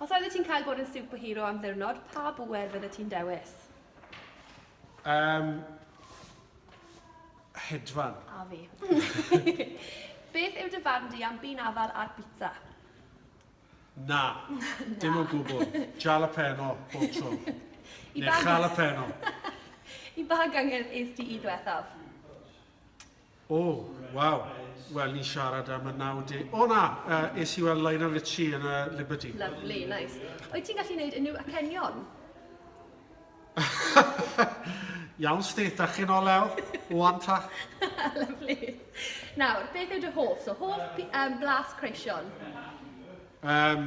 Os oeddet ti'n cael bod yn superhero am ddiwrnod, pa bŵer fyddet ti'n dewis? Yym... hedfan. A fi. Beth yw dy farn di am bean afal ar bizza? Na. Na. Dim o gwbl. Jalapeno, bob tro. I ba... Neu jalapeno. I ba gyngerdd es ti i ddwethaf? O, waw. Wel, ni'n siarad am y 90... O na, yy es i weld Lionel Richie yn y Liberty. Lyfli, neis. Wyt ti'n gallu neud unrhyw acenion? Iawn Stith, a chi'n ol Ewl? Wan ta? Lyfli. Nawr, beth yw dy hoff? So, hoff pi- yym blas creision? Yym.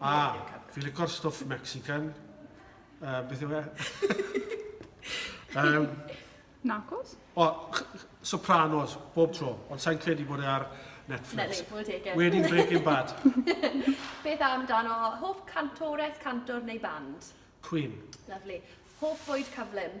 A, fi licor stwff Mexican. Uh, beth yw e? um, Narcos? O, Sopranos, bob tro. Ond sa'n credu bod e ar Netflix. Netflix Wedi Breaking Bad. beth am dan o hoff cantores, cantor neu band? Queen. Lovely. Hoff fwyd cyflym?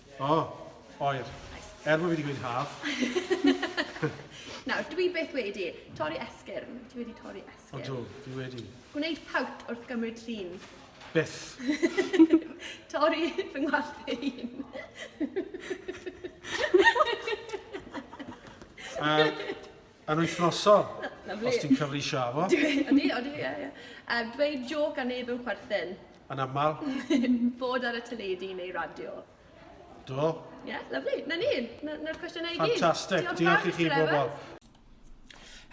O, oer. Er bod fi wedi gweud haf. Nawr, dwi beth wedi? Torri esgyrn. Dwi wedi torri esgyrn. Odw, fi wedi. Gwneud pawt wrth gymryd llun. Byth. torri fy ngwallt ei hun. uh, Yn wythnosol, os ti'n cyfleisio â fo. Ydy, ydy, ie, ie. Um, dweud joc a neb yw chwerthin. Yn aml. Bod ar y teledu neu radio. Do. Ie, yeah, lyflu. Na ni, na'r cwestiynau i gyd. Ffantastig, diolch i chi bobl.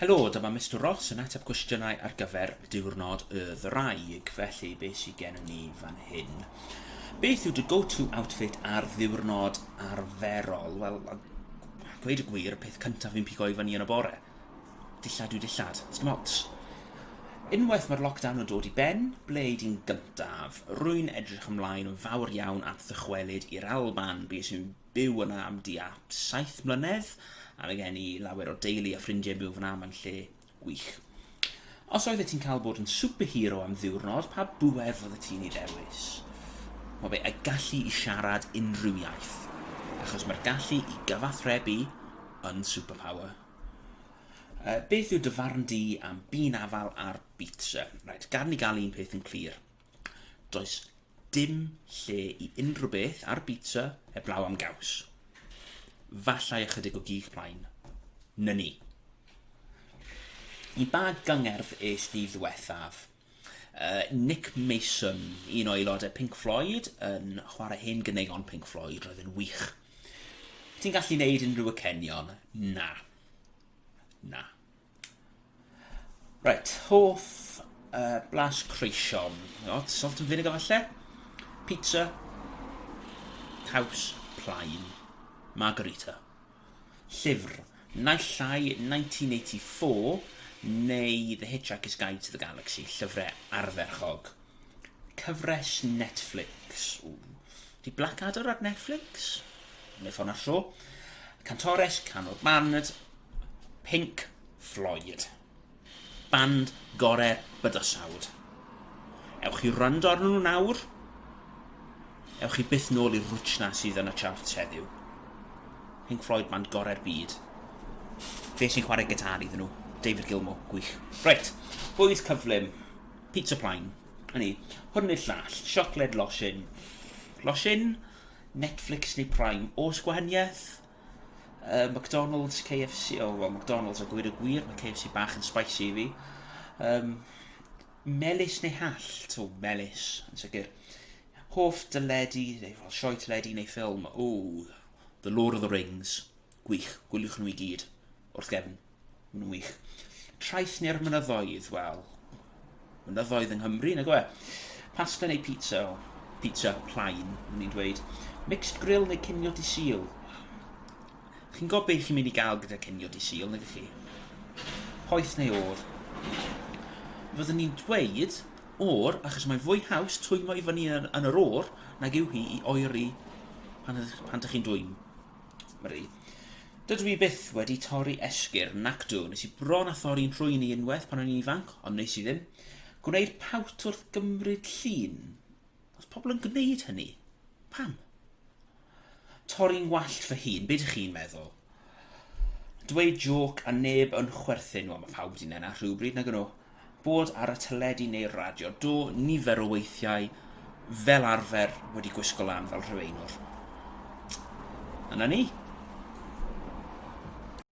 Helo, dyma Mr Ross yn ateb cwestiynau ar gyfer diwrnod y ddraig, felly be sy'n gen ni fan hyn? Beth yw dy go-to outfit ar ddiwrnod arferol? Wel, A gweud y gwir, y peth cyntaf fi'n pigo i fyny yn y bore. Dillad yw dillad. It's dim ots. Unwaith mae'r lockdown yn dod i ben, ble i di'n gyntaf? Rwy'n edrych ymlaen yn fawr iawn at ddychwelyd i'r Alban. Bues i'n byw yna am di a saith mlynedd, a mae gen i lawer o deulu a ffrindiau byw fyna mae'n lle Gwych. Os oeddet ti'n cael bod yn superhero am ddiwrnod, pa bŵer fyddet ti'n ei ddewis? Mae fe y gallu i siarad unrhyw iaith, achos mae'r gallu i gyfathrebu yn superpower. Uh, beth yw dy farn di am bîn afal ar bizza? Right, gad ni gael un peth yn clir. Does dim lle i unrhyw beth ar bita heblaw am gaws. Fallai ychydig o gig plaen. Na ni. I ba gyngerdd es di ddiwethaf? Uh, Nick Mason, un o aelodau Pink Floyd, yn chwarae hen gyneuon Pink Floyd, roedd yn wych. Ti'n gallu neud unrhyw y cenion? Na. Na. Right, hoff uh, blas creision. Not salt and vinegar falle. Pizza. Caws. Plaen. Margarita. Llyfr. Naill llai 1984 neu The Hitchhiker's Guide to the Galaxy, llyfrau arferchog. Cyfres Netflix. Ww. Di Blackadder ar Netflix? Neu ffôn ar tro. Cantores, canwr band, Pink Floyd. Band gorau'r bydysawd. Ewch i rando ar nhw nawr. Ewch i byth nôl i'r rwtsh na sydd yn y charts heddiw. Pink Floyd, band gorau'r byd. Fe sy'n chwarae gitar iddyn nhw, David Gilmour, gwych. Reit, bwyd cyflym. Pizza plaen. A ni, hwn neu'r llall, siocled losin. Losin? Netflix neu Prime? Os gwahaniaeth? Uh, McDonald's, KFC, o, oh, well, McDonald's a gwir y gwir, mae KFC bach yn spicy i fi. Um, melus neu hall? To, melus, yn sicr. Hoff dyledu, neu well, sioe teledu neu ffilm? O, The Lord of the Rings. Gwych, gwyliwch nhw i gyd, wrth gefn. Maen nhw'n wych. Traeth neu'r mynyddoedd, wel, mynyddoedd yng Nghymru, nag oe? Pasta neu pizza, o, pizza plaen, yn ni'n dweud. Mixed grill neu cinio di sil. Chi'n gwybod beth chi'n mynd i gael gyda cinio di sil, nag chi? Poeth neu o'r. Fyddwn ni'n dweud o'r, achos mae'n fwy haws twymo i fyny yn, yn yr o'r nag yw hi i oeri pan, pan ydych chi'n dwymo. Mari. Dydw i byth wedi torri esgyrn, nac dw. Nes i bron a thorri'n rhwyn i unwaith pan o'n i'n ifanc, ond nes i ddim. Gwneir pawt wrth gymryd llun. Os pobl yn gwneud hynny, pam? Torri'n wallt fy hun, be dych chi'n meddwl? Dweud joc a neb yn chwerthin, wel mae pawb wedi nena rhywbryd nag yno. Bod ar y teledu neu'r radio, do, nifer o weithiau, fel arfer, wedi gwisgo lan fel rhyweinwr. Yna ni.